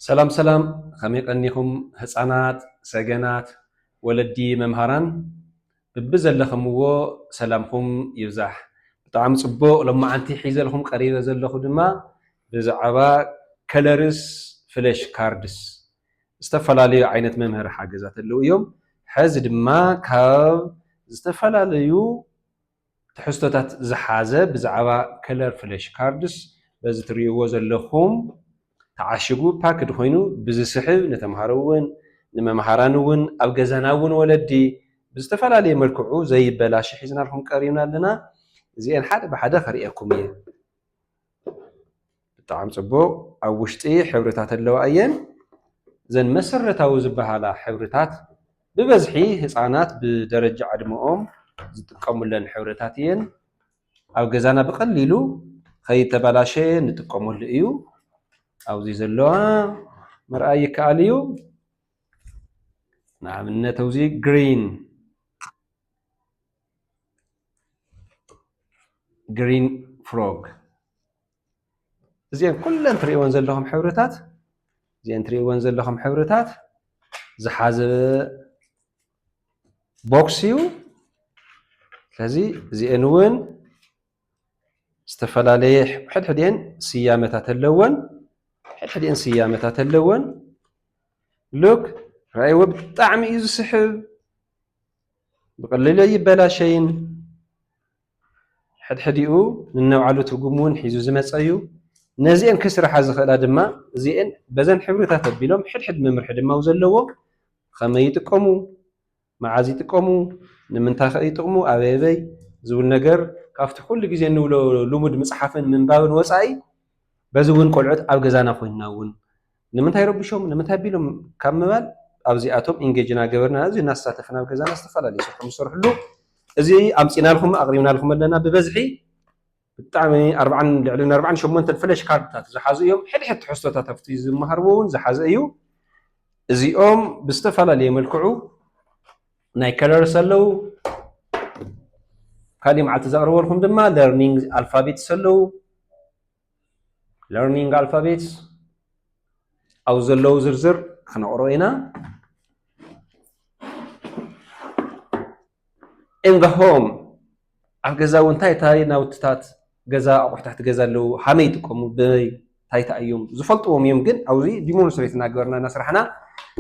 ሰላም ሰላም ኸመይ ቀኒኹም ህፃናት ሰገናት ወለዲ መምሃራን ብብዘለኽምዎ ሰላምኹም ይብዛሕ ብጣዕሚ ፅቡቕ ሎማዓንቲ ሒዘልኹም ቀሪበ ዘለኹ ድማ ብዛዕባ ከለርስ ፍለሽ ካርድስ ዝተፈላለዩ ዓይነት መምህሪ ሓገዛት ኣለዉ እዮም ሐዚ ድማ ካብ ዝተፈላለዩ ትሕዝቶታት ዝሓዘ ብዛዕባ ከለር ፍለሽ ካርድስ በዚ ትሪእዎ ዘለኹም ተዓሽጉ ፓክድ ኮይኑ ብዝስሕብ ንተምሃሮ እውን ንመምሃራን እውን ኣብ ገዛና እውን ወለዲ ብዝተፈላለየ መልክዑ ዘይበላሽ ሒዝናልኩም ቀሪብና ኣለና እዚኤን ሓደ ብሓደ ከርእየኩም እየ። ብጣዕም ጽቡቅ ኣብ ውሽጢ ሕብርታት ኣለዋ እየን ዘን መሰረታዊ ዝበሃላ ሕብርታት ብበዝሒ ህጻናት ብደረጃ ዕድመኦም ዝጥቀሙለን ሕብርታት እየን ኣብ ገዛና ብቀሊሉ ከይተባላሸየ ንጥቀመሉ እዩ ኣብዚ ዘለዋ ምርኣይ ይከኣል እዩ ንኣብነት እዚ ግሪን ግሪን ፍሮግ እዚኤን ኩለን ትሪእወን ዘለኹም ሕብርታት እዚኤን ትሪእወን ዘለኹም ሕብርታት ዝሓዘ ቦክስ እዩ። ስለዚ እዚኤን እውን ዝተፈላለየ ሕድሕድኤን ስያመታት ኣለወን ሕድሕድኤን ስያመታት ኣለወን ሉክ ረኣይዎ ብጣዕሚ እዩ ዝስሕብ ብቐሊሉ ኣይበላሸይን ሕድሕዲኡ ነናይባዕሉ ትርጉም እውን ሒዙ ዝመፀ እዩ። ነዚኤን ክስርሓ ዝኽእላ ድማ እዚኤን በዘን ሕብርታት ኣቢሎም ሕድሕድ መምርሒ ድማ ኣብ ዘለዎም ኸመይ ይጥቀሙ፣ መዓዝ ይጥቀሙ፣ ንምንታይ ኸ ይጥቕሙ፣ ኣበይ ኣበይ ዝብል ነገር ካብቲ ኩሉ ግዜ እንብሎ ልሙድ ምፅሓፍን ምንባብን ወፃኢ በዚ እውን ቆልዑት ኣብ ገዛና ኮይንና እውን ንምንታይ ረብሾም ንምንታይ ኣቢሎም ካብ ምባል ኣብዚኣቶም ኢንጌጅ እናገበርና እዚ እናተሳተፍና ኣብ ገዛና ዝተፈላለዩ ስራሕ ንሰርሕሉ እዚ ኣምፂናልኩም ኣቕሪብናልኩም ኣለና ብበዝሒ ብጣዕሚ ኣርባዕን ልዕሊ ኣርባዕን ሸሞንተን ፍለሽ ካርድታት ዝሓዙ እዮም ሕድሕድ ትሕዝቶታት ኣብቲ ዝመሃርዎ እውን ዝሓዘ እዩ እዚኦም ብዝተፈላለየ መልክዑ ናይ ከለርስ ኣለው ካልእ መዓልቲ ዘቕርበልኩም ድማ ለርኒንግ ኣልፋቤትስ ኣለው ለርኒንግ ኣልፋቤትስ ኣብ ዘለዉ ዝርዝር ክነቕሮ ኢና in the home ኣብ ገዛ እውን እንታይ እንታይ ናውትታት ገዛ ኣቑሑታት ገዛ ኣለዉ ሃመይ ይጥቀሙ በይ እንታይ እንታይ እዮም ዝፈልጥዎም እዮም ግን ኣብዚ ዲሞንስትሬት እናገበርና እናስራሕና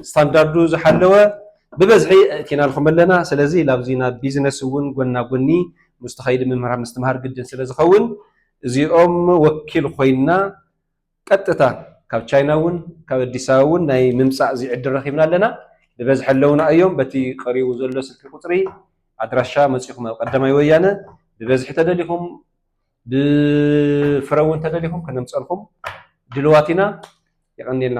ስታንዳርዱ ዝሓለወ ብበዝሒ እቲና ልኩም ኣለና ስለዚ ላብዚ ናብ ቢዝነስ እውን ጎና ጎኒ ምስ ተኸይዲ ምምህራ ምስትምሃር ግድን ስለ ዝኸውን እዚኦም ወኪል ኮይና ቀጥታ ካብ ቻይና እውን ካብ ኣዲስ ኣበባ እውን ናይ ምምፃእ እዚ ዕድል ረኺብና ኣለና። ብበዝሒ ኣለውና እዮም። በቲ ቀሪቡ ዘሎ ስልኪ ቁፅሪ ኣድራሻ መፂኹም ኣብ ቀዳማይ ወያነ ብበዝሒ ተደሊኹም ብፍረ እውን ተደሊኹም ከነምፀልኹም ድልዋት ኢና። የቐንየልና።